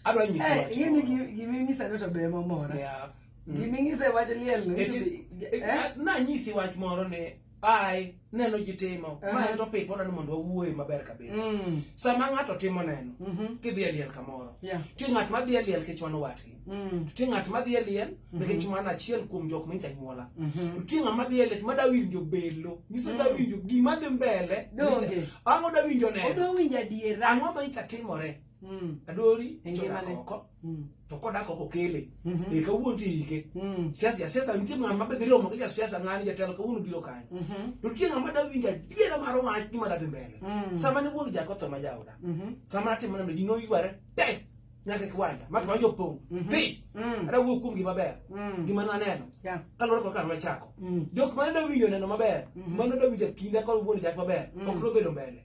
adwa nyisi eh, wach. Yini gimi ngisa no to be momora. Yeah. Mm. Gimi ngise wach liel no. It is eh? na nyisi wach moro ne ai neno ji timo uh -huh. ma en topic wadwani mondo wawuoye maber kabisa mm. sama ng'ato timo neno mm -hmm. kidhi e liel kamoro yeah. ti ng'at madhi e liel kech mano watgi mm. ti ng'at madhi e liel mm-hmm. nikech mm -hmm. mano achiel kuom jok mincha nyuola mm -hmm. ti ng'at madhi e liel ma dawinjo belo nyiso mm. dawinjo gima dhi mbele ang'o dawinjo neno ang'o ma incha timore Mm. adori e chodak oko mm. to kodak oko kele mm-hmm. e kawuono to iyike mm. siasa jasiasa nitie ng'ama mabe dhi romo gi jasiasa ng'ani jatelo kawuono biro kanyo mm-hmm. to nitie ng'ama da winjo adiera mar wach gima da dhi mbele sama ne wuon jako tho ma jaoda mm-hmm. sama natimo neno ji noyware te nyaka kiwanja maka ma jopong dhi ada wuo kuom gima ber gima naneno kaluwore kod kar wachako jok mane da winjo neno maber mano da winjo kinda kod wuon jak maber ok nobedo mbele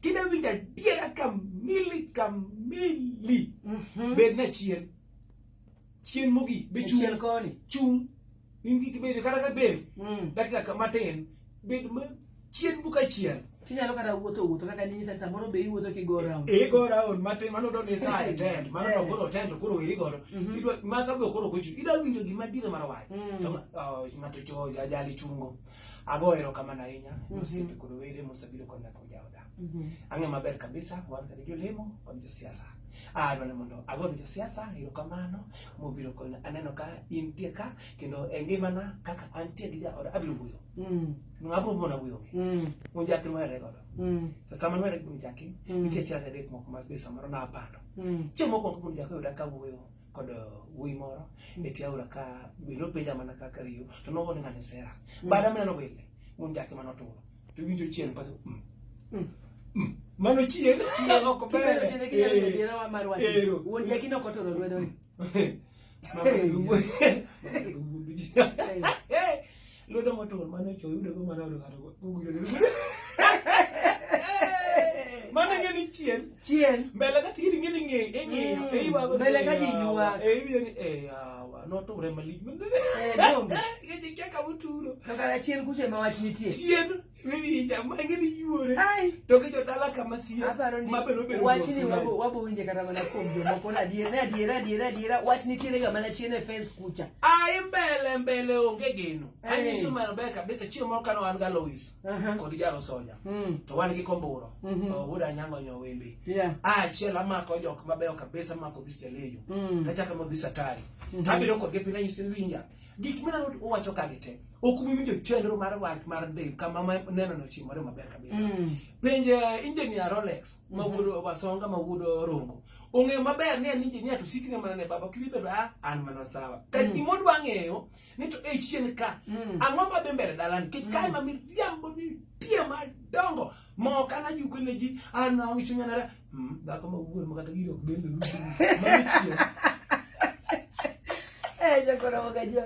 Kida winjo adiera kamili kamili. Mm -hmm. Bed na chien. Chien mogi. Be chung. Chien koni. Chung. In gi kibedo kata ka bed. Mm. Dakika kama ten. Bed ma chien buka chien. Tinyalo kata wuotho wuotho kaka nini sasa samoro be iwuotho ki go round. E go round matin mano do ni sa e tent mano to koro tent to koro weri godo. Mhm. Idwa ma ka be koro kochu. Ida winjo gima dire mar wach. Mm. To oh, ng'ato cho ajali chungo. Mm. Ago erokamano ahinya mm -hmm. osiepe kod wede mosebiro konya kuom jaoda. Mm -hmm. Ang'e maber kabisa wan kaka jolemo kod josiasa. Adwa ni mondo ago ni josiasa erokamano mobiro konya. Aneno ka intie ka kendo e ngimana kaka antie gi jaoda abiro wuoyo. Mm. Ng'abo mona wuoyo. Mm. Unjaki nwere godo. Mm. To sama nwere gi unjaki, mm. nitie chira adek moko ma be samoro napando. Mm. Chieng' mokwongo kuom jako yuda ka wuoyo. kod uh, wuoyi moro e tie aora ka bende openja mana kaka riyo to nogo ni ng'ani sera mm. bada mineno wile mon jake mano turo to winjo chien paso mm. mm. mm. mano chien ok ber ero wuon jaki noko turo lwedo Lwedo motur mane cho yudo go mane odo kato gugudo. Mane ngeni chien. Chien. Mbele ka tiri ngeni nge e nge e iwa go. Mbele ka ji yuwa. E iwa ni e yawa no to re malik. Eh dong. Ngeni kaka muturo. Kaka chien kuche ma wach nitie. Chien. Winija mange ni yuore. To gi jodala kama siya. Ma bero bero. Wach ni wabo wabo winje kata mana kuom jomoko na diere adiera adiera adiera wach ni tiere ga mana chiene fence kucha. Ai mbele mbele onge geno. Ani su mar beka bese chiemo moro kano an ga Lois. Kod jaro soja. Hmm. To wan gi komburo. Mhm. To wuda nyango nyo wembe. Ah chiela mako jok mabeyo kabisa mako dhis jalejo. Hmm. Kachaka mo dhis atari. Mhm. Abiro kod gepina nyisi winja. Gik mineno uwacho ka gi te ok ubi winjo chenro mar wach mar del kama ma neno no chimore maber kabisa. Mm. Penj uh, engineer Rolex mm-hmm. ma wuodo wasonga ma wuodo rongo. Ong'eyo maber ni an engineer to sikne mana ne baba kibi bedo ah an mana sawa. Ka mm. gimo dwa ng'eyo ni to e chien ka mm. ang'o ma dhi mbele dalani kech mm. kae ma miriambo ni tie madongo ma ok anajuko ne ji an na wicho nyanara Mm, dhako ma wuor ma kata gino ok bende. Mano chieng'. Eh, jokoromo ka jo.